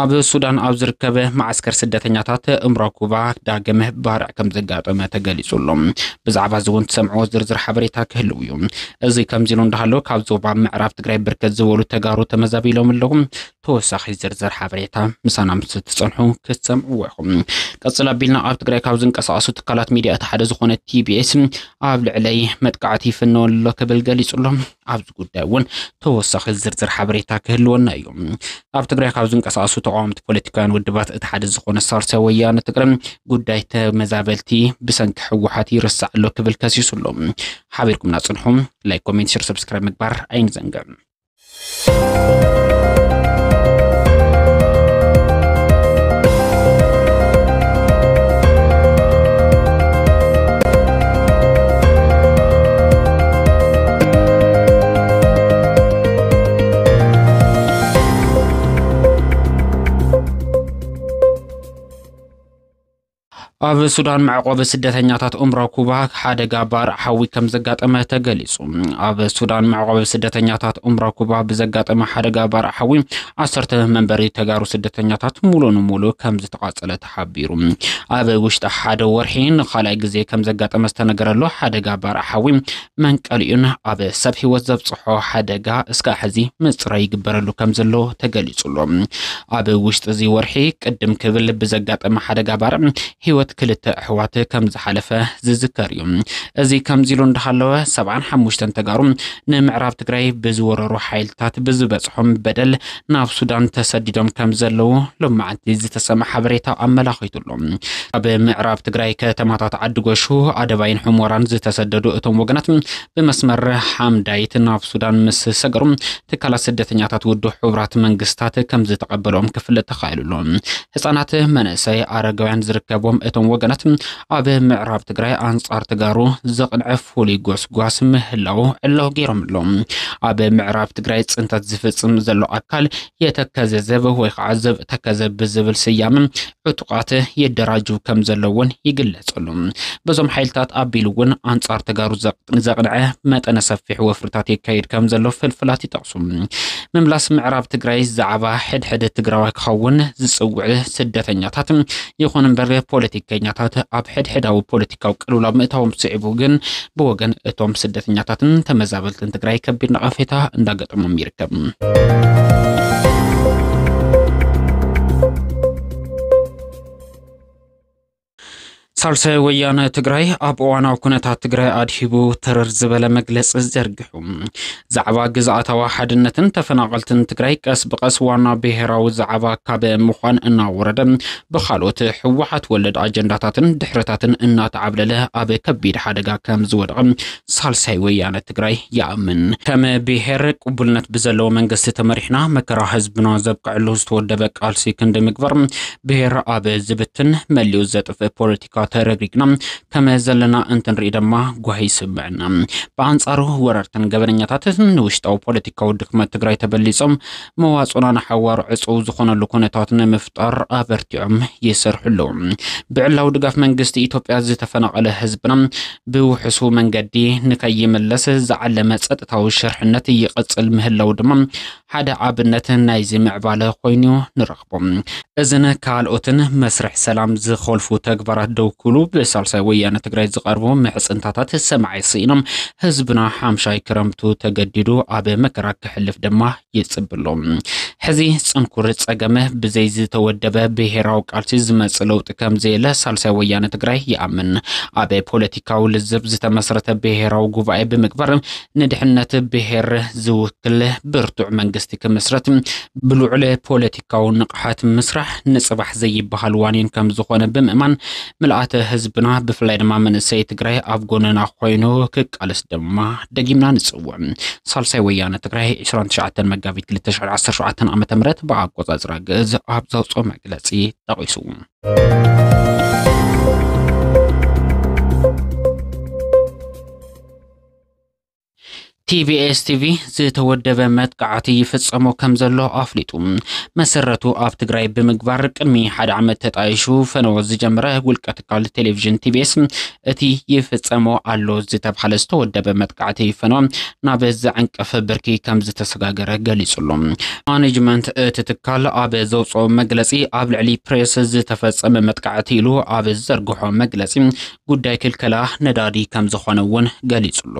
ኣብ ሱዳን ኣብ ዝርከበ ማዓስከር ስደተኛታት እምሮ ኩባ ዳግም ባርዕ ከም ዘጋጠመ ተገሊጹ ኣሎ። ብዛዕባ እዚ እውን ትሰምዕዎ ዝርዝር ሓበሬታ ክህልው እዩ። እዚ ከምዚ ኢሉ እንዳሃለወ ካብ ዞባ ምዕራብ ትግራይ ብርከት ዝበሉ ተጋሩ ተመዛቢሎም ኣለዉ። ተወሳኺ ዝርዝር ሓበሬታ ምሳና ምስ እትጸንሑ ክትሰምዕዎ ኢኹም። ቀጽል ኣቢልና ኣብ ትግራይ ካብ ዝንቀሳቐሱ ትካላት ሚድያ እቲ ሓደ ዝኾነ ቲቢኤስ ኣብ ልዕለይ መጥቃዕቲ ይፍነወኒ ኣሎ ክብል ገሊጹ ኣሎ። ኣብዚ ጉዳይ እውን ተወሳኺ ዝርዝር ሓበሬታ ክህልወና እዩ። ኣብ ትግራይ ካብ ዝንቀሳቀሱ ተቃወምቲ ፖለቲካውያን ውድባት እቲ ሓደ ዝኾነ ሳልሳይ ወያነ ትግራይ ጉዳይ ተመዛበልቲ ብሰንኪ ህወሓት ይርሳዕ ኣሎ ክብል ከሲሱ ኣሎ። ሓቢርኩምና ፅንሑ። ላይክ፣ ኮሜንት፣ ሸር፣ ሰብስክራይብ ምግባር ኣይንዘንግዕ። ኣብ ሱዳን መዕቆቢ ስደተኛታት ኡምራ ኩባ ሓደጋ ባርዕ ሓዊ ከም ዘጋጠመ ተገሊጹ። ኣብ ሱዳን መዕቆቢ ስደተኛታት ኡምራ ኩባ ብዘጋጠመ ሓደጋ ባርዕ ሓዊ ዓሰርተ መንበሪ ተጋሩ ስደተኛታት ሙሉ ንሙሉ ከም ዝተቓጸለ ሓቢሩ። ኣብ ውሽጢ ሓደ ወርሒ ንኻልኣይ ግዜ ከም ዘጋጠመ ዝተነገረሉ ሓደጋ ባርዕ ሓዊ መንቀሊኡን ኣብ ሰብ ህይወት ዘብጽሖ ሓደጋ እስካዕ ሕዚ ምጽራይ ይግበረሉ ከም ዘሎ ተገሊጹሎ። ኣብ ውሽጢ እዚ ወርሒ ቅድም ክብል ብዘጋጠመ ሓደጋ ባርዕ ህይወት ክልተ ኣሕዋት ከም ዝሓለፈ ዝዝከር እዩ። እዚ ከምዚሉ እንዳሃለወ ሰብዓን ሓሙሽተን ተጋሩ ንምዕራብ ትግራይ ብዝወረሩ ሓይልታት ብዝበጽሖም በደል ናብ ሱዳን ተሰዲዶም ከም ዘለዉ ሎም መዓልቲ ዝተሰመ ሓበሬታ ኣመላኺቱ ኣሎ። ካብ ምዕራብ ትግራይ ከተማታት ዓዲጎሹ፣ ኣደባይን ሑሞራን ዝተሰደዱ እቶም ወገናት ብመስመር ሓምዳይት ናብ ሱዳን ምስ ሰገሩ ትካላት ስደተኛታት ውዱ ሕቡራት መንግስታት ከም ዝተቐበሎም ክፍለጥ ተኻኢሉ ኣሎ። ህፃናት፣ መናእሰይ፣ ኣረጋውያን ዝርከቦም እቶም ወገናት ኣብ ምዕራብ ትግራይ ኣንጻር ተጋሩ ዘቕንዐ ፍሉይ ጎስጓስ ምህላው ዕላው ገይሮም ኣለዉ። ኣብ ምዕራብ ትግራይ ፅንተት ዝፍፅም ዘሎ ኣካል የተከዘ ዘብ ወይ ከዓ ዘብ ተከዘ ብዝብል ስያመ ዕጡቓት የደራጅው ከም ዘለውን ይግለጸሉ። በዞም ሓይልታት ኣቢሉ እውን ኣንጻር ተጋሩ ዘቕ ዘቕንዐ መጠነ ሰፊሕ ወፍርታት የካይድ ከም ዘሎ ፍልፍላት ይጠቕሱ ምምላስ ምዕራብ ትግራይ ዛዕባ ሕድሕድ ትግራዋይ ክኸውን ዝፅውዕ ስደተኛታት ይኹን እምበር ፖለቲከኛታት ኣብ ሕድሕዳዊ ፖለቲካዊ ቅልውላው ምእታዎም ስዒቡ ግን ብወገን እቶም ስደተኛታትን ተመዛበልትን ትግራይ ከቢድ ነቐፌታ እንዳገጠሞም ይርከብ ሳልሳይ ወያነ ትግራይ ኣብ እዋናዊ ኩነታት ትግራይ ኣድሂቡ ተረር ዝበለ መግለፂ ዘርግሑ ዛዕባ ግዝኣታዊ ሓድነትን ተፈናቐልትን ትግራይ ቀስ ብቐስ ዋና ብሄራዊ ዛዕባ ካብ ምዃን እናወረደ ብካልኦት ህወሓት ወለድ ኣጀንዳታትን ድሕረታትን እናተዓብለለ ኣብ ከቢድ ሓደጋ ከም ዝወደቐ ሳልሳይ ወያነ ትግራይ ይኣምን። ከም ብሄር ቅቡልነት ብዘለዎ መንግስቲ ተመሪሕና መከራ ህዝብና ዘብቅዐሉ ዝተወደበ ቃልሲ ክንዲ ምግባር ብሄር ኣብ ዝብትን መሊኡ ዘጥፍእ ፖለቲካ ተረግሪግና ከመ ዘለና እንትንርኢ ደማ ጓሂ ይስምዕና። ብኣንጻሩ ወረርትን ገበነኛታትን ንውሽጣዊ ፖለቲካዊ ድክመት ትግራይ ተበሊጾም መዋጽኦና ንሓዋሩ ዕጹው ዝኾነሉ ኩነታት ንምፍጣር ኣበርቲዖም ይሰርሑ ኣለዉ። ብዕላዊ ድጋፍ መንግስቲ ኢትዮጵያ ዝተፈናቐለ ህዝብና ብውሕሱ መንገዲ ንከይምለስ ዝዓለመ ጸጥታዊ ሽርሕነት ይቕጽል ምህላዉ ድማ ሓደ ኣብነት ናይዚ ምዕባለ ኮይኑ ንረኽቦ። ይግበኦ። እዝን ካልኦትን መስርሕ ሰላም ዝኸልፉ ተግባራት ደው ክብሉ ብሳልሳይ ወያነ ትግራይ ዝቐርቡ ምሕፅንታታት ሰማዒ ስኢኖም ህዝብና ሓምሻይ ክረምቱ ተገዲዱ ኣብ መከራ ክሕልፍ ድማ ይፅብሎ። ሕዚ ፅንኩር ፀገመ ብዘይ ዝተወደበ ብሄራዊ ቃልሲ ዝመፅ ለውጢ ከምዘየለ ሳልሳይ ወያነ ትግራይ ይኣምን። ኣብ ፖለቲካዊ ልዝብ ዝተመስረተ ብሄራዊ ጉባኤ ብምግባር ንድሕነት ብሄር ዝውክል ብርቱዕ መንግስቲ ክምስረት ብልዑለ ፖለቲካዊ ንቕሓት ምስራሕ ንፅባሕ ዘይበሃል ዋኒን ከምዝኾነ ብምእማን ምልኣተ ህዝብና ብፍላይ ድማ መንእሰይ ትግራይ ኣብ ጎንና ኮይኑ ክቃለስ ድማ ደጊምና ንፅውዕ። ሳልሳይ ወያነ ትግራይ 29 መጋቢት 2017 ዓ ም ብኣቆፃፅራ ግእዝ ኣብ ዘውፅኦ መግለፂ ጠቒሱ። ቲቢኤስ ቲቪ ዝተወደበ መጥቃዕቲ ይፍጸሞ ከም ዘሎ ኣፍሊጡ። መሰረቱ ኣብ ትግራይ ብምግባር ቅድሚ ሓደ ዓመት ተጣይሹ ፈነወ ዝጀመረ ውልቀ ትካል ቴሌቪዥን ቲቢኤስ እቲ ይፍጸሞ ኣሎ ዝተብሃለ ዝተወደበ መጥቃዕቲ ፈነወ ናብ ዘዕንቅፍ ብርኪ ከም ዝተሰጋገረ ገሊጹሉ። ማኔጅመንት እቲ ትካል ኣብ ዘውፅኦ መግለፂ ኣብ ልዕሊ ፕሬስ ዝተፈፀመ መጥቃዕቲ ኢሉ ኣብ ዝዘርግሖ መግለፂ ጉዳይ ክልከላ ነዳዲ ከምዝኾነ እውን ገሊፁሉ።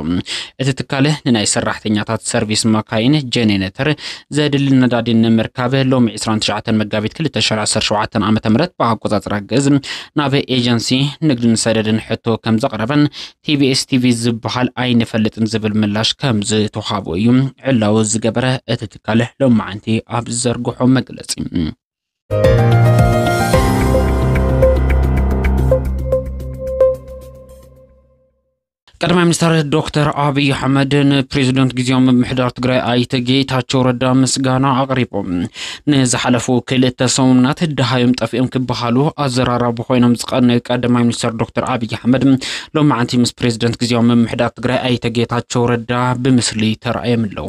እቲ ትካል ንናይ ሰራሕተኛታት ሰርቪስ ማካይን፣ ጀኔነተር፣ ዘድሊ ነዳዲ ንምርካብ ሎሚ ዕስራን ትሽዓተን መጋቢት ክልተ ሽሕ ዓሰርተ ሸውዓተ ዓ ም ብኣቆፃፅራ ግእዝ ናብ ኤጀንሲ ንግድን ሰደድን ሕቶ ከምዘቕረበን ቲቢኤስ ቲቪ ዝበሃል ኣይንፈልጥን ዝብል ምላሽ ከምዝተውሃቦ እዩ ዕላዊ ዝገበረ እቲ ትካል ሎማዕንቲ ኣብ ዝዘርግሖ መግለፂ። ቀዳማይ ሚኒስትር ዶክተር ኣብዪ ኣሕመድ ንፕሬዚደንት ግዜያዊ ምምሕዳር ትግራይ ኣይተ ጌታቸው ረዳ ምስጋና ኣቕሪቦም ንዝሓለፉ ክልተ ሰሙናት ድሃዮም ጠፊኦም ክበሃሉ ኣዘራራቢ ኮይኖም ዝቐነዩ ቀዳማይ ሚኒስትር ዶክተር ኣብዪ ኣሕመድ ሎማዕንቲ ምስ ፕሬዚደንት ግዜያዊ ምምሕዳር ትግራይ ኣይተ ጌታቸው ረዳ ብምስሊ ተራእዮም ኣለዉ።